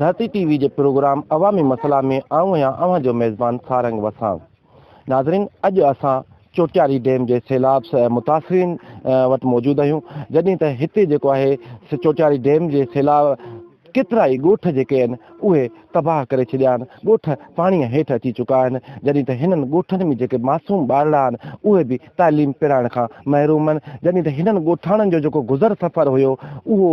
ڌرتي T V جي programme عوامي مسئلا ۾ آئون آهيان اوهان جو ميزبان سارنگ وساڻ. ناظرين اڄ اسان چوٽياري ڊيم جي سيلاب سهه متاثرين وٽ موجود آهيون جڏهن ته هتي جيڪو آهي چوٽياري ڊيم جي سيلاب ڪيترائي ڳوٺ جيڪي آهن اهي تباهه ڪري ڇڏيا آهن، ڳوٺ پاڻيء هيٺ اچي چڪا آهن، جڏهن ته هنن ڳوٺن ۾ جيڪي معصوم ٻارڙا آهن اهي به تعليم پرائڻ کان محروم آهن، جڏهن ته هنن ڳوٺاڻن جو جيڪو گذر سفر هيو اهو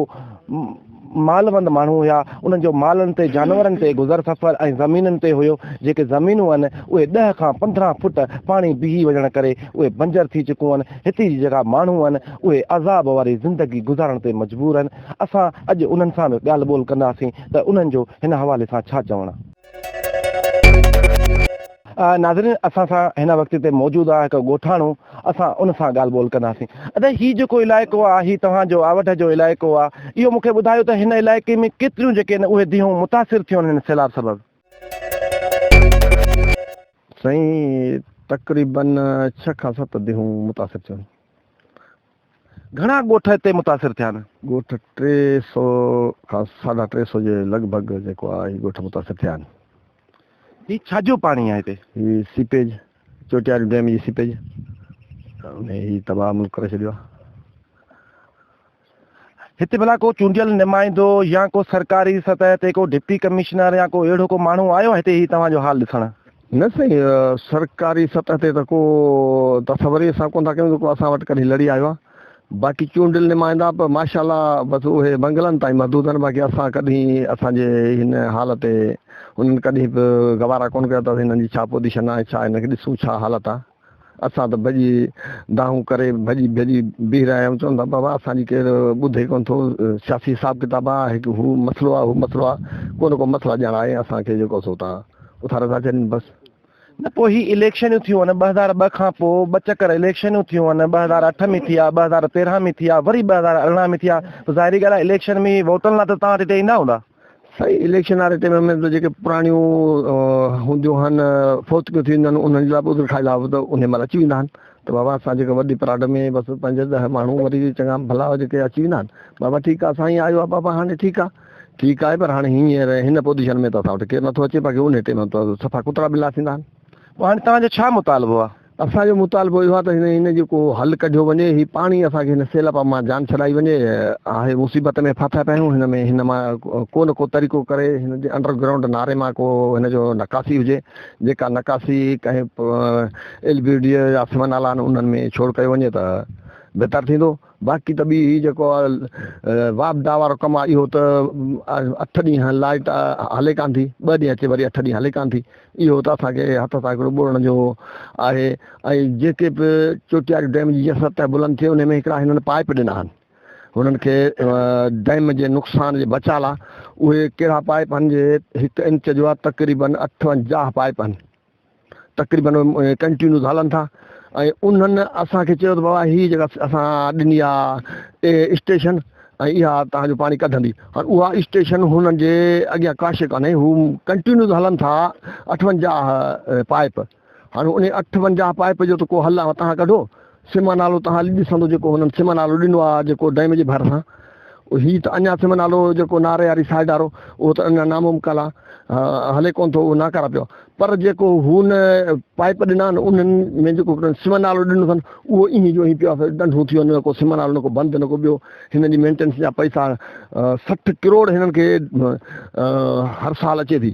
مالوند ماڻهو هيا، انهن جو مالن تي جانورن تي گذر سفر ۽ زمينن تي هيو، جيڪي زمينون آهن اهي ڏهه کان پندرهن فوٽ پاڻي بيهي وڃڻ ڪري اهي بنجر ٿي چڪون آهن، هتي جي جيڪا ماڻهو آهن اهي عذاب واري زندگي گذارڻ تي مجبور آهن. اسان اڄ انهن سان به ڳالهه ٻولهه ڪنداسين ته انهن جو هن حوالي سان ڇا چوڻ آ. ناظرين اسان سان هن وقت هتي موجود آ هڪ ڳوٺاڻو اسان ان سان ڳالهه ٻولهه ڪنداسين. ادا هي جيڪو علائقو آ هي توهان جو آوڍ جو علائقو آ اهو مونکي ٻڌايو ته هن علائقي ۾ ڪيتريون جيڪي آهن اهي ديهون متاثر ٿيون آهن هن سيلاب سبب. سائين تقريبن ڇهه کان ست ديهون متاثر ٿيون آهن. گهڻا ڳوٺ اتي متاثر ٿيا آهن. ڳوٺ ٽي سؤ کان ساڍا ٽي سؤ جي لڳ ڀڳ جيڪو آهي هي ڳوٺ متاثر ٿيا آهن. هي ڇا جو پاڻي آهي هتي؟ هي سيپيج، چوٽياري ڊيم جي سيپيج ۾ هي تباهه ملڪ ڪري ڇڏيو آهي. هتي ڀلا ڪو چونڊيل نمائندو يا ڪو سرڪاري سطح تي ڪو ڊپٽي ڪمشنر يا ڪو اهڙو ڪو ماڻهو آيو آهي هتي هي توهان جو حال ڏسڻ؟ نه سائين سرڪاري سطح تي ته ڪو تصور ئي اسان ڪونه ٿا ڪيون جيڪو اسان وٽ ڪڏهن لڙي آيو آهي باقي چونڊيل نمائندا به ماشاء الله بس اهي بنگلن تائين محدود آهن باقي اسان ڪڏهن اسان جي هن حال تي انهن ڪڏهن به گوارا ڪونه ڪيا اٿس هنن جي ڇا پوزيشن آهي ڇا هن کي ڏسون ڇا حالت آهي. اسان ته ڀڄي دانهون ڪري ڀڄي ڀڄي بيهي رهيا آهيون، چون ٿا بابا اسان جي ڪير ٻڌي ڪونه ٿو، سياسي حساب ڪتاب آ، هڪ هو مسئلو آ، هو مسئلو آ، ڪو نه ڪو مسئلا ڄڻ آهي اسان کي جيڪو سو تان اٿا رٿا چرين بس. نه پوء هي اليڪشنيون ٿيون آهن ٻه هزار ٻه کان پوء ٻه چڪر اليڪشنيون ٿيون آهن، ٻه هزار اٺ ۾ ٿيا، ٻه هزار تيرهن ۾ ٿيا، وري ٻه هزار ارڙهن ۾ ٿيا، ته ظاهري ڳالهه آ اليڪشن ۾ ووٽن لاء ته توهان هتي ايندا هوندا. سائين اليڪشن واري ٽيم ۾ جيڪي پراڻيون هونديون هن فوتڪيون ٿينديون آهن انهن جي لاء به عذر کائي لاء به انهي مهل اچي ويندا آهن ته بابا اسان جيڪي وڏي پراڊ ۾ بس پنج ڏهه ماڻهو وري چڱا ڀلا جيڪي اچي ويندا آهن بابا ٺيڪ آهي سائين آيو آهي بابا هاڻي ٺيڪ آهي ٺيڪ آهي پر هاڻي هينئر هن پوزيشن ۾ ته اسان وٽ ڪير نٿو اچي باقي انهي ٽيم ۾ ته سفا ڪترا ٻلا ٿيندا آهن پوء هاڻي توهان جو ڇا مطالبو آهي؟ اسان جو مطالبو اهو آهي ته هن هن جو ڪو حل ڪڍيو وڃي، هي پاڻي اسان کي هن سيلاب مان جان ڇڏائي وڃي، آهي مصيبت ۾ ڦاٿا پيا آهيون، هن ۾ هن مان ڪو نه ڪو طريقو ڪري هن جي انڊر گرائونڊ ناري مان ڪو هن جو نڪاسي هجي، جيڪا نڪاسي ڪنهن ايل بي ڊي اي يا سمن نالا آهن انهن ۾ ڇوڙ ڪيو وڃي ته بهتر ٿيندو. باقي ته ٻي هي جيڪو واپڊا وارو ڪم آهي اهو ته اٺ ڏينهن لائيٽ هلي ڪانه ٿي ٻه ڏينهن اچي وري اٺ ڏينهن هلي ڪانه ٿي اهو ته اسان کي هٿ سان هڪڙو ٻوڙڻ جو آهي ۽ جيڪي به چوٽياري ڊيم جي جيئن سطح بلند ٿئي ان ۾ هڪڙا هنن پائپ ڏنا آهن هنن کي ڊيم جي نقصان جي بچاء لاء اهي ڪهڙا پائپ آهن جي هڪ انچ جو تقريبن اٺونجاهه پائپ آهن تقريبن ڪنٽينوز هلن ٿا ۽ انهن اسان کي چيو ته بابا هي جيڪا اسان ڏني آ اسٽيشن ۽ اها توهان جو پاڻي ڪڍندي هاڻ اها اسٽيشن هنن جي اڳيان ڪاشي ڪانهي هو ڪنٽينوز هلن ٿا اٺونجاهه پائپ هاڻ انهي اٺونجاهه پائپ جو ته ڪو حل آ توهان ڪڍو سمه نالو توهان اڄ ڏسندو جيڪو هنن سمه نالو ڏنو آ جيڪو ڊيم جي ڀرسان هي ته اڃا سمه نالو جيڪو ناري واري سائيڊ وارو اهو ته اڃا نامو مڪال آ هلي ڪون ٿو اهو ناڪاره پيو پر جيڪو هن پائپ ڏنا آهن انهن ۾ جيڪو سمه نالو ڏنو اٿن اهو ايئن جو ايئن پيو ڏنڍو ٿي وڃي ڪو سمه نالو نه ڪو بند نه ڪو ٻيو هن جي مينٽينس جا پئسا سٺ ڪروڙ هنن کي هر سال اچي ٿي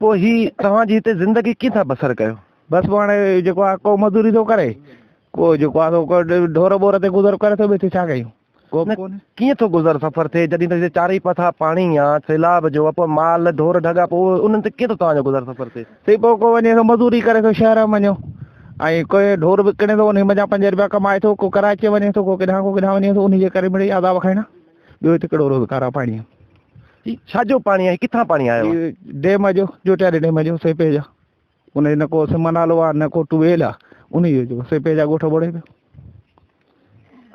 پوء هي توهان جي هتي زندگي ڪيئن ٿا بسر ڪيو؟ بس پوء هاڻي جيڪو آهي ڪو مزوري ٿو ڪري، ڪو جيڪو آهي سو ڍور ٻور تي گذر ڪري ٿو، ٻيو هتي ڇا ڪيون؟ ڪيئن ٿو گذر سفر ٿئي جڏهن ته هتي چارئي پاسا پاڻي آ، سيلاب جو، پوء مال ڍور ڍڳا، پوء انهن تي ڪيئن ٿو توهان جو گذر سفر ٿئي؟ سي پوء ڪو وڃي ٿو مزوري ڪري ٿو شهر م وڃو ۽ ڪو ڍور وڪڻي ٿو، انهي منجهان پنج رپيا ڪمائي ٿو، ڪو ڪراچيء وڃي ٿو، ڪو ڪيڏانهن ڪو ڪيڏانهن وڃي ٿو، انهي جي ڪري مڙئي عذاب کائڻا. ٻيو هتي ڪهڙو روز کارا پاڻي آهن. هي ڇا جو پاڻي آهي ڪٿان پاڻي آيو آهي. هي ڊيم جو جوٽياري ڊيم جو سيپي جا ان جو نه ڪو سم نالو آهي نه ڪو ٽويل آهي ان جو جو سيپي جا ڳوٺ ٻوڙي پيو.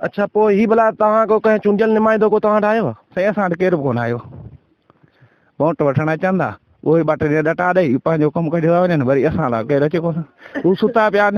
اڇا پوء هي ڀلا توهان ڪو ڪنهن چونڊيل نمائندو ڪو توهان وٽ آيو آهي. سائين اسان وٽ ڪير به ڪونه آيو ووٽ وٺڻ اچن ٿا اهي ٻه ٽي ڏينهن ڏٽا ڏئي پنهنجو ڪم ڪڍي ٿا وڃن وري اسان لاء ڪير اچي ڪونه هو ستا پيا آهن.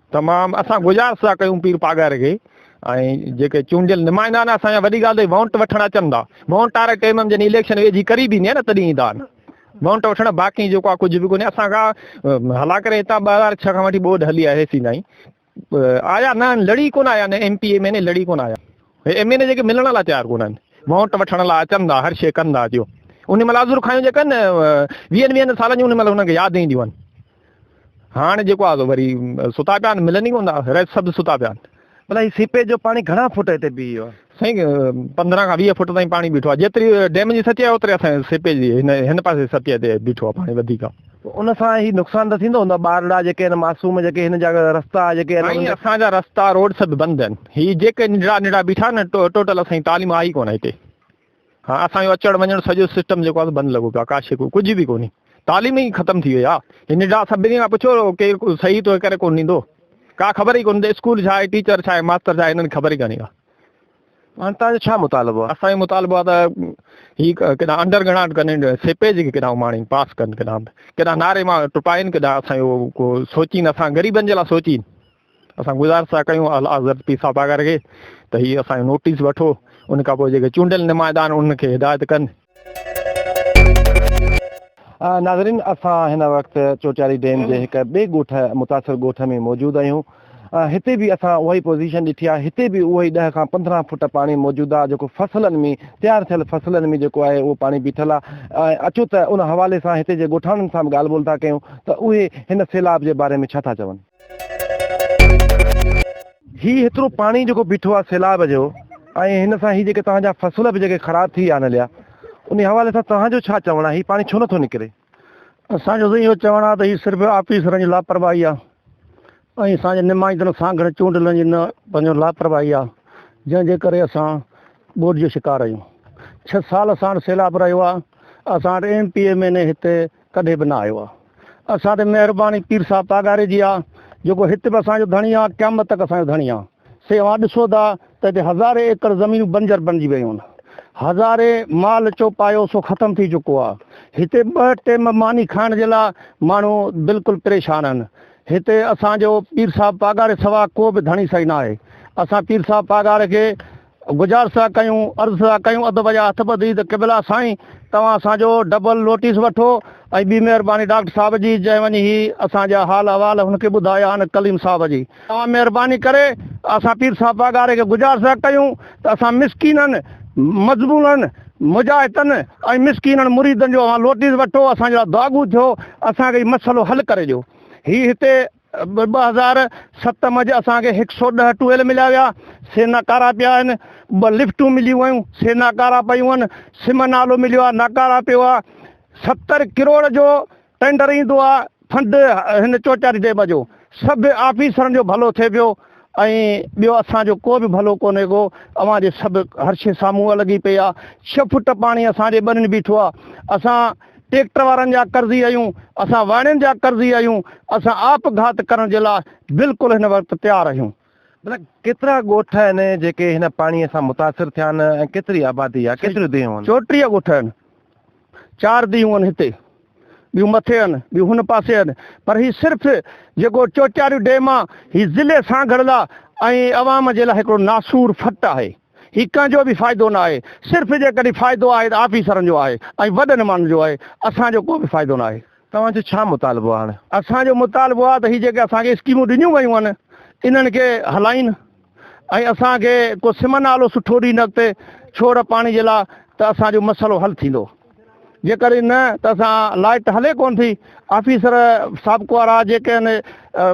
تمام اسان گذارش ٿا ڪيون پير پاڳاري کي ۽ جيڪي چونڊيل نمائندا آهن اسان جا وڏي ڳالهه ته وونٽ وٺڻ اچن ٿا وونٽ واري ٽيم ۾ جڏهن اليڪشن ويجهي قريب ايندي آهي نه تڏهن ايندا آهن وونٽ وٺڻ باقي جيڪو آهي ڪجهه به ڪونهي اسان کان هلا ڪري هتان ٻه هزار ڇهه کان وٺي ٻوڏ هلي آهي سين تائين آيا نه لڙي ڪونه آيا نه M P M N A لڙي ڪونه آيا ايم اين اي جيڪي ملڻ لاء تيار ڪونه آهن وونٽ وٺڻ لاء اچن ٿا هر شي ڪن ٿا جو ان ملازور کايون جيڪا آهن ويهن ويهن سالن جون ان مل هنن کي ياد اينديون آهن هاڻ جيڪو آ وري ستا پيا آهن ملن ئي ڪون ٿا ريت سڀ ستا پيا آهن. ڀلا هي سيپيج جو پاڻي گهڻا فوٽ هتي بيهي ويو آهي؟ سائين پندرهن کان ويهه فوٽ تائين پاڻي بيٺو آهي جيتري ڊيم جي سطح آهي اوتري اسان جي سيپيج جي هن هن پاسي سطح تي بيٺو آهي پاڻي وڌيڪ آهي. ان سان هي نقصان ته ٿيندو هوندو ٻارڙا جيڪي آهن معصوم جيڪي هن جا رستا جيڪي آهن سائين اسان جا رستا روڊ سڀ بند آهن هي جيڪي ننڍڙا ننڍڙا بيٺا آهن ٽوٽل اسان جي تعليم آئي ڪونه هتي. ها اسان جو اچڻ وڃڻ سڄو سسٽم جيڪو آهي بند لڳو پيو آهي ڪاشي ڪو ڪجهه به ڪونهي تعليم ئي ختم ٿي وئي آهي هي نڊا سڀني کان پڇو ڪير صحيح تو ڪري ڪون ڏيندو ڪا خبر ئي ڪون ته اسڪول ڇا آهي ٽيچر ڇا آهي ماستر ڇا آهي هنن خبر ئي ڪانهي ڪا هاڻي تان جو ڇا مطالبو آهي اسان جو مطالبو آهي ته هي ڪيڏا انڊر گراؤنڊ ڪن سيپيج کي ڪيڏا اماڻين پاس ڪن ڪيڏا ڪيڏا ناري مان ٽپائين ڪيڏا اسان جو ڪو سوچين اسان غريبن جي لاء سوچين اسان گذارش ٿا ڪيون اعليٰ حضرت پير صاحب آغر کي ته هي اسان جو نوٽيس وٺو ان کان پوء جيڪي چونڊيل نمائندا آهن انهن کي هدايت ڪن. ناظرين اسان هن وقت چوٽياري ڊيم جي هڪ ٻئي ڳوٺ متاثر ڳوٺ ۾ موجود آهيون هتي به اسان اها ئي پوزيشن ڏٺي آهي هتي به اهو ئي ڏهه کان پندرهن فوٽ پاڻي موجود آهي جيڪو فصلن ۾ تيار ٿيل فصلن ۾ جيڪو آهي اهو پاڻي بيٺل آهي ۽ اچو ته ان حوالي سان هتي جي ڳوٺاڻن سان به ڳالهه ٻولهه ٿا ڪيون ته اهي هن سيلاب جي باري ۾ ڇا ٿا چون. هي هيترو پاڻي جيڪو بيٺو آ سيلاب جو ۽ هن سان هي جيڪي توهان جا فصل به جيڪي خراب ٿي آن ليا انهي حوالي سان توهان جو ڇا چوڻ آ هي پاڻي ڇو نه ٿو نڪري؟ اسان جو سائين اهو چوڻ آ ته هي صرف آفيسرن جي لاپرواهي آ ۽ اسان جي نمائندن سانگهڙ چونڊيلن جي نه پنهنجو لاپرواهي آ جنهن جي ڪري اسان ٻوڏ جو شڪار آهيون ڇهه سال اسان وٽ سيلاب رهيو آ اسان وٽ M P M N A هتي ڪڏهن به نه آيو آ. اسان تي مهرباني پير صاحب پاڳاري جي آ، جيڪو هت به اسان جو ڌڻي آ، قيامت تڪ اسان جو ڌڻي آ. سي اوهان ڏسو ٿا ته هتي هزارين ايڪڙ زمينون بنجر بنجي ويون آهن. هزارين مال چوپايو سو ختم ٿي چڪو آ. هتي ٻه ٽيم ماني کائڻ جي لا ماڻهو بلڪل پريشان آهن. هتي اسان جو پير صاحب پاڳاري سوا ڪو به ڌڻي سائين نه آهي. اسان پير صاحب پاڳاري کي گذارش ٿا ڪيون عرض ٿا ڪيون ادب جا هٿ ٻڌي ته قبلا سائين توهان اسان جو ڊبل نوٽيس وٺو ۽ ٻي مهرباني ڊاڪٽر صاحب جي جنهن وڃي هي اسان جا حال احوال هن کي ٻڌايا آهن ڪليم صاحب جي توهان مهرباني ڪري اسان پير صاحب پاڳاري کي گذارش ٿا ڪيون ته اسان مسڪينن مظبونن مجاهتن ۽ مسڪينن مريدن جو اوهان لوٽيس وٺو اسان جا دعاڳو ٿيو اسان کي هي مسئلو حل ڪري ڏيو هي هتي ٻه هزار ست م جي اسان کي هڪ سؤ ڏهه ٽويل مليا ويا سي ناڪارا پيا آهن ٻه لفٽون مليون ويون سي ناڪارا پيون آهن سم نالو مليو آهي ناڪارا پيو آهي ستر ڪروڙ جو ٽينڊر ايندو آهي فنڊ هن چوچاري ڊيم جو سڀ آفيسرن جو ڀلو ٿئي پيو ۽ ٻيو اسان جو ڪو به ڀلو ڪونهي ڪو اوهان جي سڀ هر شي سامهون لڳي پئي آهي ڇهه فوٽ پاڻي اسان جي ٻنين بيٺو آهي اسان ٽيڪٽر وارن جا قرضي آهيون، اسان واڻين جا قرضي آهيون، اسان آپ گهات ڪرڻ جي لاء بلڪل هن وقت تيار آهيون. ڀلا ڪيترا ڳوٺ آهن جيڪي هن پاڻي سان متاثر ٿيا آهن ۽ ڪيتري آبادي آهي، ڪيتريون ديهون آهن؟ چوٽيهه ڳوٺ آهن، چار ديهون آهن هتي، ٻيون مٿي آهن، ٻيون هن پاسي آهن، پر هي صرف جيڪو چوچاريو ڊيم آهي، هي ضلعي سانگهڙ لاء ۽ عوام جي لاء هڪڙو ناسور ڦٽ آهي. هي ڪنهن جو به فائدو نه آهي، صرف جيڪڏهن فائدو آهي ته آفيسرن جو آهي ۽ وڏن ماڻهن جو آهي، اسان جو ڪو به فائدو نه آهي. توهان جو ڇا مطالبو آهي هاڻ؟ اسان جو مطالبو آهي ته هي جيڪي اسان کي اسڪيمون ڏنيون ويون آهن انهن کي هلائين ۽ اسان کي ڪو سم نالو سٺو ڏين اڳتي ڇوڙ پاڻي جي لا ته اسان جو مسئلو حل ٿيندو. جيڪڏهن نه ته اسان لائيٽ ته هلي ڪونه ٿي. آفيسر سابق وارا جيڪي آهن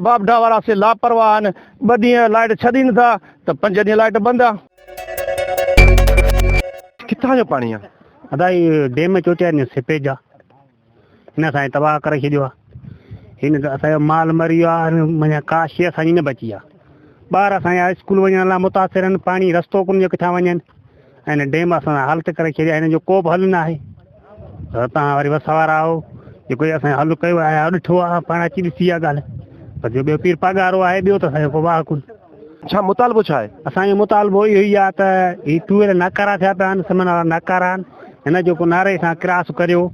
واپڊا وارا سي لاپرواهه آهن ٻه ڏينهن لائيٽ ڇڏي نه ٿا ته پنج ڏينهن لائيٽ بند آ. ڪٿان جو پاڻي آ؟ ادا هي ڊيم چوٽياري جو سيپيج آ هن اسان کي تباهه ڪري ڇڏيو آ هن سان اسان جو مال مري ويو آ معنيٰ ڪا شي اسان جي نه بچي آ ٻار اسان جا اسڪول وڃڻ لاء متاثر آهن پاڻي رستو ڪونه جو ڪٿان وڃن. ھن ڊيم اسان جا حالت ڪري ڇڏيا ھن جو ڪوبه حل ناھي پر تھان وري وس وارا آھو جيڪو ھي اسان حل ڪيو آھي يا ڏٺو آھي پاڻ اچي ڏسي اھا ڳالھ پر جو ٻيو پير پاڳارو آھي ٻيو ته اسان جو ڪو واھ ڪونھي. ڇا مطالبو ڇا آھي؟ اسان جو مطالبو اھو ئي آھي ته ھي ٽويل ناڪارا ٿيا پيا آھن سمن وارا ناڪارا آھن ھن جو ڪو ناري سان ڪراس ڪريو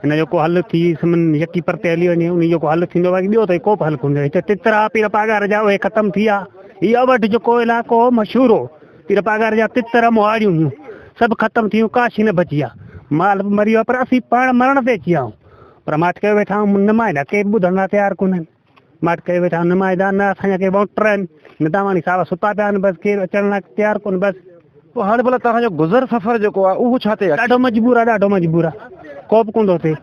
ھن جو ڪو حل ٿي سمن يڪي پرتي ھلي وڃي انھي جو ڪو حل ٿيندو باقي ٻيو ته ڪوبه حل ڪونھي ھتي تتر آھي پير پاڳاري جا اھي ختم ٿي ويا ھي اھو وٽ جيڪو علائقو ھو مشھور ھو. پير پاڳار جا تتر مهاڙيون هيون، سڀ ختم ٿيون، ڪا شيء نه بچي آ. مال به مري ويو آ، پر اسين پاڻ مرڻ تي اچي ويا آهيون. پر ماٺ ڪيو ويٺا آهيون، نمائندا ڪي به ٻڌڻ لاء تيار ڪونهن. ماٺ ڪيو ويٺا آهيون، نمائندا نه اسان جا ڪي وائونٽر آهن، نه دانواڻي صاحب ستا پيا آهن، بس ڪير اچڻ لاء تيار ڪونهن، بس. پوء هاڻي ڀلا توهان جو گذر سفر جيڪو آ، اهو ڇا تي آ؟ ڏاڍو مجبور آ، ڏاڍو مجبور آ، ڪو به ڪوندو اچي،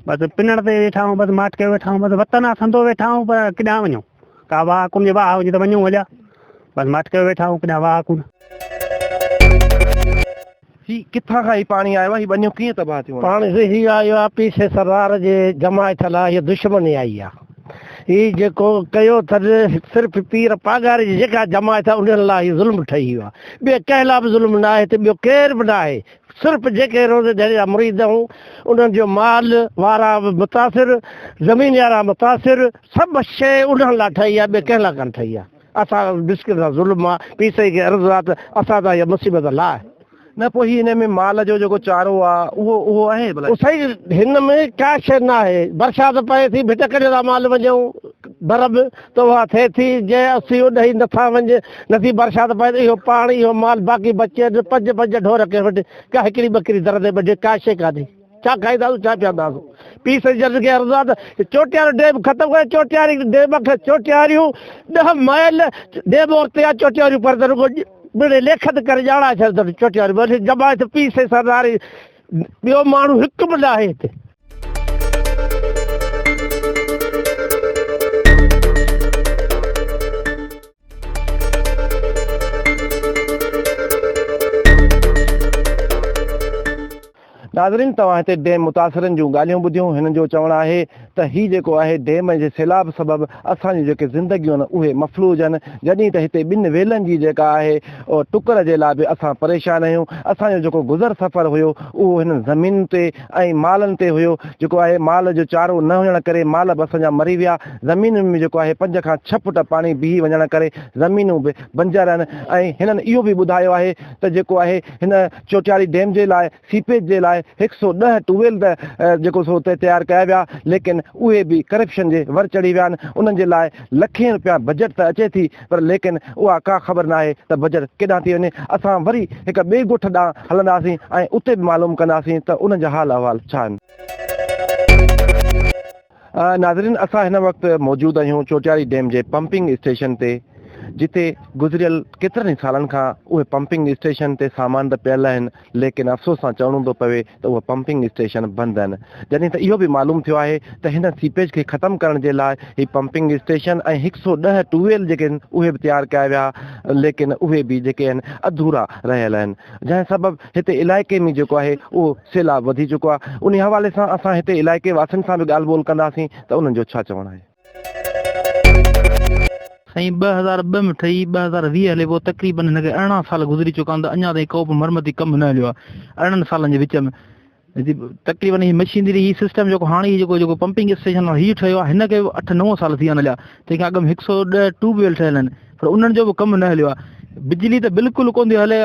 بس پنڻ تي ويٺا آهيون، بس ماٺ ڪيو ويٺا آهيون، بس وطن آ، سندو ويٺا آهيون، پر ڪيڏانهن وڃون؟ ڪا واهه ڪونه جي واهه هجي ته وڃون هليا بس مٺ ڪيو ويٺا آهون ڪڏهن واهه ڪونه. هي ڪٿان کان هي پاڻي آيو آهي هي ٻنيون ڪيئن تباهه ٿيون آهن. پاڻي سي هي آيو آهي پيشي سردار جي جماعي ٿل آهي هي دشمني آئي آهي هي جيڪو ڪيو اٿن صرف پير پاڳاري جي جيڪا جماعت آهي انهن لا هي ظلم ٺهي ويو آهي ٻي ڪنهن لا به ظلم ناهي ته ٻيو ڪير به ناهي صرف جيڪي روزي جھڙي جا مريد ھون انھن جو مال وارا به متاثر زمينيارا متاثر سڀ شيء انھن لا ٺھي آ ٻي ڪنھن لا ڪانه ٺھي آ اسان مسڪين سان ظلم آ پيسي کي عرض آ ته اسان تان اھا مصيبت لاھه. نه پوء ھي انھي ۾ مال جو جيڪو چارو آ اھو اھو آھي ڀلا. سائين ھن ۾ ڪا شيء ناھي برسات پئي ٿي ڀٽ ڪڍيو ٿا مال وڃون ڀر به. ته اها ٿئي ٿي، جنهن اسي اڏهي نٿا وڃ، نٿي برسات پوي ته اهو پاڻ، اهو مال، باقي بچي ته پنج پنج ڍور ڪنهن وٽ، ڪا هڪڙي ٻڪري در تي ٻڍي، ڪا شيء ڪانهي. ڇا کائينداسون، ڇا پيئنداسون؟ پيء سندس جرس کي عرض آهي ته چوٽيارو ڊيم ختم ڪريو، چوٽياري ڊيم کان چوٽياريون ڏهه مائل ڊيم اورتي آهي، چوٽياريون پر ته رڳو ٻنهي ليکت ڪري ڄاڻائي ڇڏيو اٿن چوٽياريون ٻنهي ڄمائي ته پيء سندس عرض آهي ته ٻيو ماڻهو هڪ به ناهي هتي. ناظرين توهان هتي ڊيم متاثرن جون ڳالهيون ٻڌيون هنن جو چوڻ آهي ته هي جيڪو آهي ڊيم ۽ جي سيلاب سبب اسان جون جيڪي زندگيون آهن اهي مفلوج آهن جڏهين ته هتي ٻن ويلن جي جيڪا آهي ٽڪر جي لا به اسان پريشان آهيون اسان جو جيڪو گذر سفر هيو اهو هنن زمينن تي ۽ مالن تي هيو جيڪو آهي مال جو چارو نه هجڻ ڪري مال به اسان جا مري ويا زمينن ۾ جيڪو آهي پنج کان ڇهه فوٽ پاڻي بيهي وڃڻ ڪري زمينون به بنجر آهن ۽ هنن اهو به ٻڌايو آهي ته جيڪو آهي هن چوٽياري ڊيم جي لاء سيپيج جي لاء هڪ سؤ ڏهه ٽويل ته جيڪو سو اتي تيار ڪيا ويا ليڪن اهي به ڪرپشن جي ور چڙهي ويا آهن انهن جي لاء لکين روپيا بجيٽ ته اچي ٿي پر ليڪن اها ڪا خبر ناهي ته بجر ڪيڏانهن ٿي وڃي. اسان وري هڪ ٻئي ڳوٺ ڏانهن هلنداسين ۽ اتي به معلوم ڪنداسين ته انهن جا حال احوال ڇا آهن. ناظرين اسان هن وقت موجود آهيون چوٽياري ڊيم جي پمپنگ اسٽيشن تي جتي گذريل ڪيترن ئي سالن کان اهي پمپنگ اسٽيشن تي سامان ته پيل آهن ليڪن افسوس سان چوڻو ٿو پوي ته اهي پمپنگ اسٽيشن بند آهن، جڏهن ته اهو به معلوم ٿيو آهي ته هن سيپيج کي ختم ڪرڻ جي لاء هي پمپنگ اسٽيشن ۽ هڪ سؤ ڏهه ٽيوب ويل جيڪي آهن اهي به تيار ڪيا ويا ليڪن اهي به جيڪي آهن اڌورا رهيل آهن جنهن سبب هتي علائقي ۾ جيڪو آهي اهو سيلاب وڌي چڪو آهي انهي حوالي سان اسان هتي علائقي واسين سان به ڳالهه ٻولهه ڪنداسين ته انهن جو ڇا چوڻ آهي. سائين ٻه هزار ٻه ۾ ٺهي ٻه هزار ويهه هلي پيو تقريبن هن کي ارڙهن سال گذري چڪا آهن ته اڃا تائين ڪو به مرمتي ڪم نه هليو آهي ارڙهن سالن جي وچ ۾ تقريبن هي مشينري هي سسٽم جيڪو هاڻي هي جيڪو جيڪو پمپنگ اسٽيشن هي ٺهيو آهي هن کي به اٺ نو سال ٿي ويا آهن هليا تنهن کان اڳ ۾ هڪ سؤ ڏهه ٽيوب ويل ٺهيل آهن پر انهن جو به ڪم نه هليو آهي بجلي ته بلڪل ڪونه ٿي هلي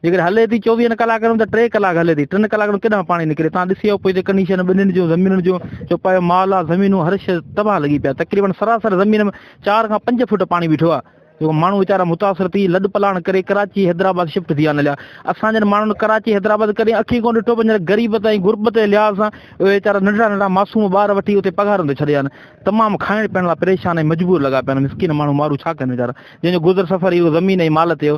جيڪڏهن هلي ٿي چوويهن ڪلاڪن ۾ ته ٽي ڪلاڪ هلي ٿي ٽن ڪلاڪن ۾ ڪيڏانهن پاڻي نڪري تان ڏسيو پوء جي ڪنڊيشن ٻنين جون زمينن جون جو پايو مال آ زمينون هر شيء تباهه لڳي پيا تقريبن سراسر زمين ۾ چار کان پنج فوٽ پاڻي بيٺو آ جو ماڻهو ويچارا متاثر ٿي لڏ پلاڻ ڪري ڪراچي حيدرآباد شفٽ ٿي آن ليا اسان جن ماڻهن ڪراچي حيدرآباد ڪڏهن اکين ڪون ڏٺو پنهنجي غريبت ۽ غربت جي لحاظ سان اهي ويچارا ننڍڙا ننڍڙا معصوم ٻار وٺي اتي پگهارن تي ڇڏيا آهن تمام کائڻ پيئڻ لاء پريشان ۽ مجبور لڳا پيا آهن مسڪين ماڻهو مارو ڇا ڪن ويچارا جنهن جو گذر سفر اهو زمين ۽ مال تي هو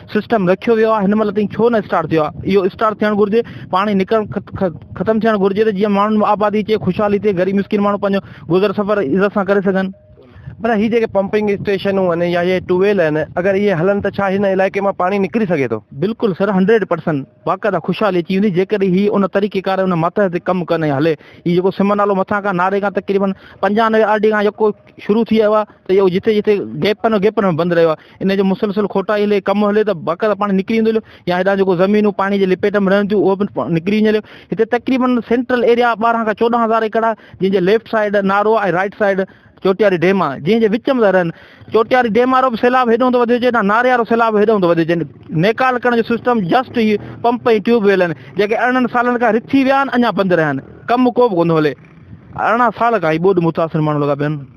سسٽم رکيو ويو آهي هن مهل تائين ڇو نه اسٽارٽ ٿيو آهي اهو اسٽارٽ ٿيڻ گهرجي پاڻي نڪرڻ ختم ٿيڻ گهرجي ته جيئن ماڻهن آبادي اچي خوشحالي ٿئي غريب مسڪين ماڻهو پنهنجو گذر سفر عزت سان ڪري سگهن پر هي جيڪي پمپنگ اسٽيشنون آهن يا هي ٽيوب ويل آهن اگر اهي هلن ته ڇا هن علائقي مان پاڻي نڪري سگهي ٿو بلڪل سر هنڊريڊ پرسنٽ باقاعده خوشحالي اچي ويندي جيڪڏهن هي ان طريقي ڪار ان ماتحت تي ڪم ڪن ۽ هلي هي جيڪو سم نالو مٿان کان ناري کان تقريبن پنجانوي آر ڊي کان جيڪو شروع ٿي ويو آهي ته اهو جتي جتي گيپن گيپن ۾ بند رهيو آهي ان جو مسلسل کوٽائي هلي، ڪم هلي ته باقاعده پاڻي نڪري ويندو هليو يا هيڏانهن جيڪو زمينون پاڻي جي لپيٽ ۾ رهن ٿيون اهو به نڪري وڃي هليو. هتي تقريبن سينٽرل ايريا ٻارهن کان چوڏهن هزار ايڪڙ آهي جنهن جي ليفٽ سائيڊ نارو آهي ۽ رائيٽ سائيڊ چوٽياري ڊيم آهي جنهن جي وچ ۾ ته رهن. چوٽياري ڊيم وارو به سيلاب هيڏانهن ٿو وڌيو اچي هيڏانهن ناري وارو سيلاب هيڏانهن ٿو وڌيو اچي. نيڪال ڪرڻ جو سسٽم جسٽ هي پمپ ۽ ٽيوب ويل آهن جيڪي ارڙهن سالن کان رٿي ويا آهن اڃا بند رهيا آهن ڪم ڪو به ڪونه ٿو هلي. ارڙهن سال کان هي ٻوڏ متاثر ماڻهو لڳا پيا آهن.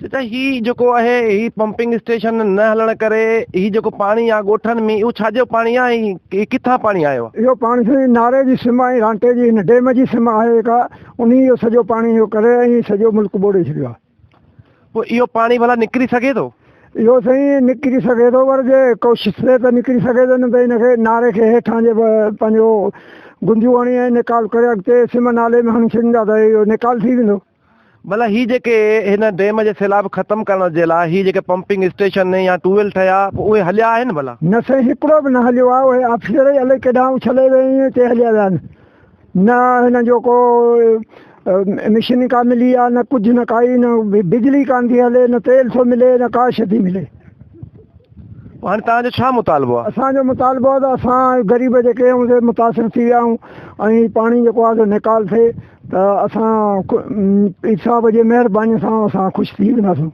ڇو ته هي جيڪو آهي هي پمپنگ اسٽيشن نه هلڻ ڪري هي جيڪو پاڻي آهي ڳوٺن ۾ اهو ڇا جو پاڻي آهي ۽ هي ڪٿان پاڻي آيو آهي؟ اهو پاڻي سائين ناري جي سم ۽ رانٽي جي هن ڊيم جي سم آهي جيڪا انهي اهو سڄو پاڻي اهو ڪري ۽ سڄو ملڪ ٻوڙي ڇڏيو آهي. پوء اهو پاڻي ڀلا نڪري سگهي ٿو؟ اهو سائين نڪري سگهي ٿو پر جي ڪوشش ٿئي ته نڪري سگهي ٿو نه ته هن کي ناري کي هيٺان جي پنهنجو گنديون هڻي ۽ نيڪال ڪري اڳتي سم نالي ۾ هڻي ڇڏيندا ته اهو نيڪال ٿي ويندو. ڀلا هي جيڪي هن ڊيم جي سيلاب ختم ڪرڻ جي لاء هي جيڪي پمپنگ اسٽيشن يا ٽيوب ويل ٺهيا پوء اهي هليا آهن ڀلا؟ نه سائين هڪڙو به نه هليو آهي اهي آفيسر ئي الائي ڪيڏانهن اڇلي ويا ائين ڪي هليا ويا آهن نه هنن جو ڪو مشين ڪا ملي آهي نه ڪجهه نه ڪائي نه بجلي ڪانه ٿي هلي نه تيل ٿو ملي نه ڪا شي ٿي ملي. پوء هاڻي توهان جو ڇا مطالبو آهي؟ اسان جو مطالبو آهي ته اسان غريب جيڪي آهيون سي متاثر ٿي ويا آهيون ۽ پاڻي جيڪو آهي سو نيڪال ٿئي. ته اسان صاحب جي مهرباني سان اسان خوش ٿي وينداسون.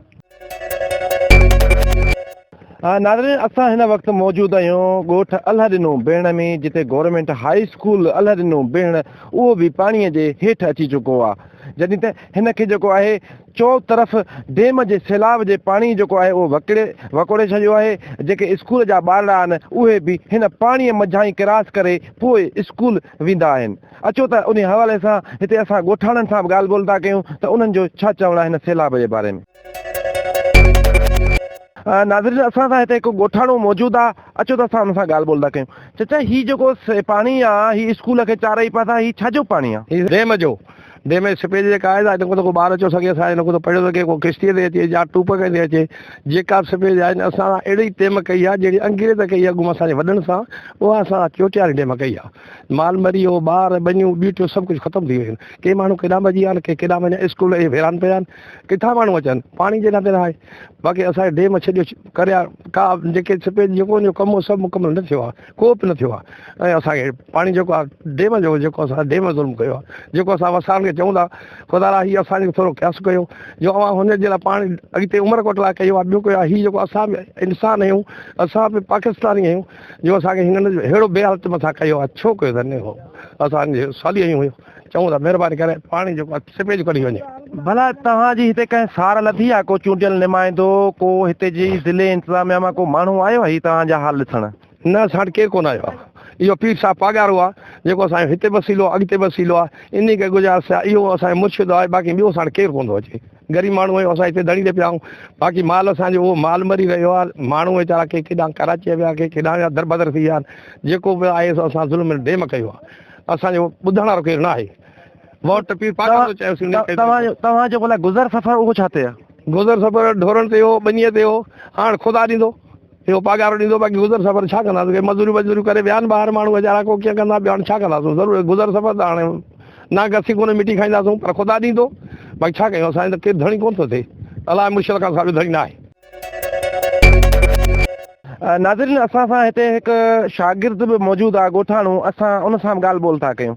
ناظرين اسان هن وقت موجود آهيون ڳوٺ الهه ڏنو بيهڻ ۾ جتي گورنمينٽ هاء اسڪول الهه ڏنو بيهڻ اهو به پاڻي جي هيٺ اچي چڪو آهي جڏهن ته هن کي جيڪو آهي چو طرف ڊيم جي سيلاب جي پاڻي جيڪو آهي اهو وڪڙي وڪوڙي ڇڏيو آهي جيڪي اسڪول جا ٻارڙا آهن اهي به هن پاڻي منجهان ئي ڪراس ڪري پوء اسڪول ويندا آهن. اچو ته انهي حوالي سان هتي اسان ڳوٺاڻن سان به ڳالهه ٻولهه ٿا ڪيون ته انهن جو ڇا چوڻ آهي هن سيلاب جي باري ۾. ناظرين اسان سان هتي هڪ ڳوٺاڻو موجود آ اچو ته اسان ان سان ڳالهه ٻولهه ٿا ڪيون. چچا هي جيڪو پاڻي آ هي اسڪول کي چارئي پاسا هي ڇا جو پاڻي آ؟ هي ڊيم جو، ڊيم جي سپيج جيڪا آهي سا هن کان ته ڪو ٻار اچو سگهي سا هن کان ته پڙهيو سگهي ڪو ڪشتيء تي اچي يا ٽوپ کڻي اچي جيڪا به سپيج آهي اسان اهڙي ڊيم ڪئي آ جهڙي انگريز ڪئي آ اڳوڻ اسان جي وڏن سان اها اسان چوٽياري ڊيم ڪئي آ. مال مري ويو، ٻار، ٻنيون، ٻيٽيون سڀ ڪجهه ختم ٿي ويون آهن. ڪي ماڻهو ڪيڏانهن ڀڄي ويا آهن، ڪي ڪيڏانهن وڃن، اسڪول اهي ويران پيا آهن، ڪٿان ماڻهو اچن، پاڻي جي ناطي نه آهي. باقي اسان کي ڊيم ڇڏيو ڪريا ڪا جيڪي سپيج جي جيڪو ان جو ڪم هو سڀ مڪمل نه ٿيو آهي، ڪو به نه ٿيو آهي ۽ اسان کي پاڻي جيڪو آهي ڊيم جو جيڪو اسان ڊيم ظلم ڪيو آهي، جيڪو اسان وسائڻ کي چئون ٿا، خدارا هي اسان جو ٿورو قياس ڪيو جو اوهان هن جي لاء پاڻي اڳتي عمرڪوٽ لاء ڪيو آهي، ٻيو ڪيو آهي، هي جيڪو اسان به انسان آهيون، اسان به پاڪستاني آهيون. جو اسان کي هنن ههڙو بي حالت مٿان ڪيو آهي ڇو ڪيو اٿن اهو اسان جي سالي اهي هيون چئون ٿا مهرباني ڪري پاڻي جو سپيج ڪڍي وڃي. ڀلا توهان جي هتي ڪنهن سار لڌي آهي ڪو چونڊيل نمائندو ڪو هتي جي ضلعي انتظاميا مان ڪو ماڻهو آيو آهي هي توهان جا حال ڏسڻ. نه اسان وٽ ڪير ڪونه آيو آهي اهو پير صاحب پاڳارو آهي جيڪو اسان جو هتي وسيلو آهي اڳتي وسيلو آهي انهي کي گذارش آهي اهو اسان جو مرشد آهي باقي ٻيو اسان وٽ ڪير ڪونه ٿو اچي. غريب ماڻهو آهيون اسان هتي ڌڻي تي پيا آهيون باقي مال اسان جو اهو مال مري رهيو آهي ماڻهو ويچارا ڪي ڪيڏانهن ڪراچي ويا ڪي ڪيڏانهن ويا دربدر ٿي ويا آهن جيڪو به آهي سو اسان ظلم ڊيم ڪيو آهي اسان جو ٻڌڻ وارو ڪير ناهي ووٽ پير پاڪستان جو چيوسين توهان جو گذر سفر اهو ڇا تي آهي گذر سفر ڍورن تي هو ٻنيء تي هو هاڻ خدا ڏيندو اهو پاڳارو ڏيندو باقي گذر سفر ڇا ڪنداسون ڪي مزوريون وزوريون ڪري ويا آهن ٻاهر ماڻهو ويچارا ڪو ڪيئن ڪندا ٻيو هاڻي ڇا ڪنداسون ضرور گذر سفر ته هاڻي نا گسي ڪونه مٽي کائينداسون پر خدا ڏيندو باقي ڇا ڪيون اسان ته ڪير ڌڻي ڪونه ٿو ٿئي الاء مرشد خان صاحب جو ڌڻي ناهي. ناظرين اسان سان هتي هڪ شاگرد به موجود آهي ڳوٺاڻو اسان ان سان به ڳالهه ٻولهه ٿا ڪيون.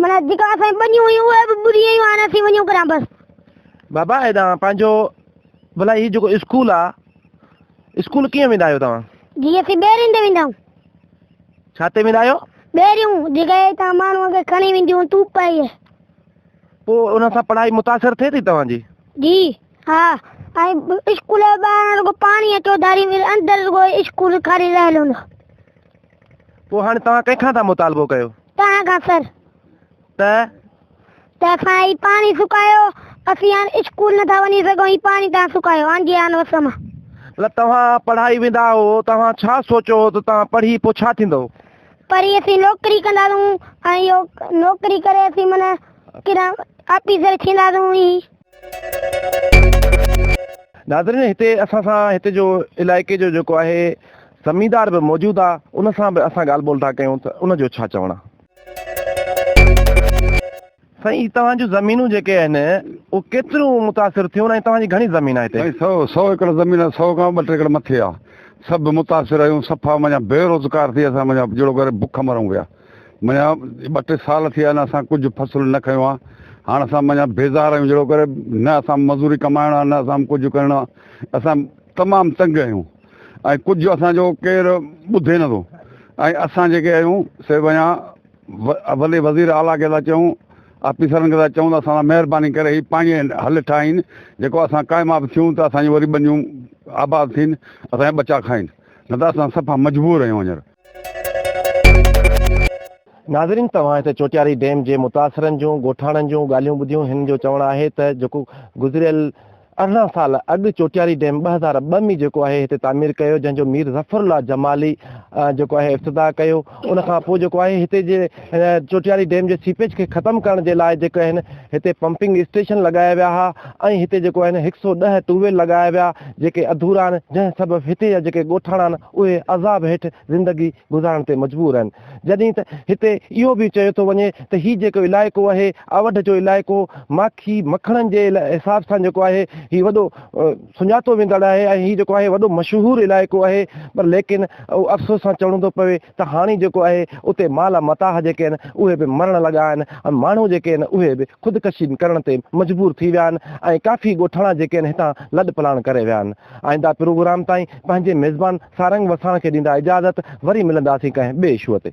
منا جيڪا اسان بنيون هيون اهي به ٻري ويون هاڻي اسين وڃون ڪڏهن بس. بابا ايڏانهن پنهنجو ڀلا هي جيڪو اسڪول آ اسڪول ڪيئن ويندا آهيو توهان؟ جي اسين ٻيرين تي ويندا آهيون. ڇا تي ويندا آهيو؟ ٻيريون جيڪي هتان ماڻهو کي کڻي وينديون تون پئي. پوء ان سان پڙهائي متاثر ٿئي ٿي توهان جي؟ جي ها ۽ اسڪول جي ٻاهران رڳو پاڻي اچو ڌاري اندر رڳو اسڪول خالي رهيل هوندو. پوء هاڻي توهان ڪنهن کان ٿا مطالبو ڪيو؟ توهان کان سر. ته؟ ته اسان هي پاڻي سڪايو، اسين هاڻ اسڪول نٿا وڃي سگهون، هي پاڻي توهان سڪايو، هاڻ جي هاڻ وس مان. مطلب توهان پڙهائي ويندا هئو، توهان ڇا سوچيو هو ته توهان پڙهي پوء ڇا ٿيندؤ؟ پڙهي اسين نوڪري ڪنداسون ۽ اهو نوڪري ڪري اسين معنيٰ ڪيڏا آفيسر ٿينداسون ائين. ناظرين هتي اسان سان هتي جو علائقي جو جيڪو آهي زميندار به موجود آ ان سان به اسان ڳالهه ٻولهه ٿا ڪيون ته ان جو ڇا چوڻ آ. سائين هي توهان جون زمينون جيڪي آهن اهو ڪيتريون متاثر ٿيون ۽ توهان جي گهڻي زمين آ هتي. سائين سؤ ايڪڙ زمين آ سؤ کان ٻه ٽي ايڪڙ مٿي آ سڀ متاثر آهيون صفا معنيٰ بي روزگار ٿي اسان معنيٰ جهڙو ڪري بک مرون پيا. منجهان ٻه ٽي سال ٿي ويا آهن اسان ڪجهه فصل نه کنيو آهي هاڻ اسان منجهان بيزار آهيون جهڙو ڪري نه اسان مزوري ڪمائڻ آهي نه اسان ڪجهه ڪرڻو آهي اسان تمام تنگ آهيون ۽ ڪجهه اسان جو ڪير ٻڌي نه ٿو ۽ اسان جيڪي آهيون سي منجهان وڏي وزير اعليٰ کي ٿا چئون آفيسرن کي ٿا چئون ته اسان سان مهرباني ڪري هي پاڻي حل ٺاهين جيڪو اسان ڪامياب ٿيون ته اسان جون وري ٻنيون آباد ٿين اسان جا ٻچا کائين نه ته اسان صفا مجبور آهيون هينئر ناظرين توهان هتي چوٽياري ڊيم جي متاثرن جون ڳوٺاڻن جون ڳالهيون ٻڌيون هنن جو چوڻ آهي ته جيڪو گذريل ارڙهن سال اڳ چوٽياري ڊيم ٻه هزار ٻه ۾ جيڪو آهي هتي تعمير ڪيو جنهن جو مير ظفرالله جمالي جيڪو آهي افتتاح ڪيو ان کان پوء جيڪو آهي هتي جي هن چوٽياري ڊيم جي سيپيج کي ختم ڪرڻ جي لاء جيڪو آهن هتي پمپنگ اسٽيشن لڳايا ويا ها ۽ هتي جيڪو آهن هڪ سئو ڏهه ٽيوب ويل لڳايا ويا جيڪي اڌورا آهن جنهن سبب هتي جا جيڪي ڳوٺاڻا آهن اهي عذاب هيٺ زندگي گذارڻ تي مجبور آهن جڏهن ته هتي اهو به چيو ٿو وڃي ته هي جيڪو علائقو آهي اوڍ جو علائقو ماکي مکڻن جي حساب سان جيڪو آهي هي وڏو سڃاتو ويندڙ آهي ۽ هي جيڪو آهي وڏو مشهور علائقو آهي پر ليڪن افسوس سان چوڻو ٿو پوي ته هاڻي جيڪو آهي اتي مال متاح جيڪي آهن اهي به مرڻ لڳا آهن ۽ ماڻهو جيڪي آهن اهي به خودڪشي ڪرڻ تي مجبور ٿي ويا آهن ۽ ڪافي ڳوٺاڻا جيڪي آهن هتان لڏ پلاڻ ڪري ويا آهن آئنده پروگرام تائين پنهنجي ميزبان سارنگ وساڻ کي ڏيندا اجازت وري ملنداسين ڪنهن ٻئي اشوء تي.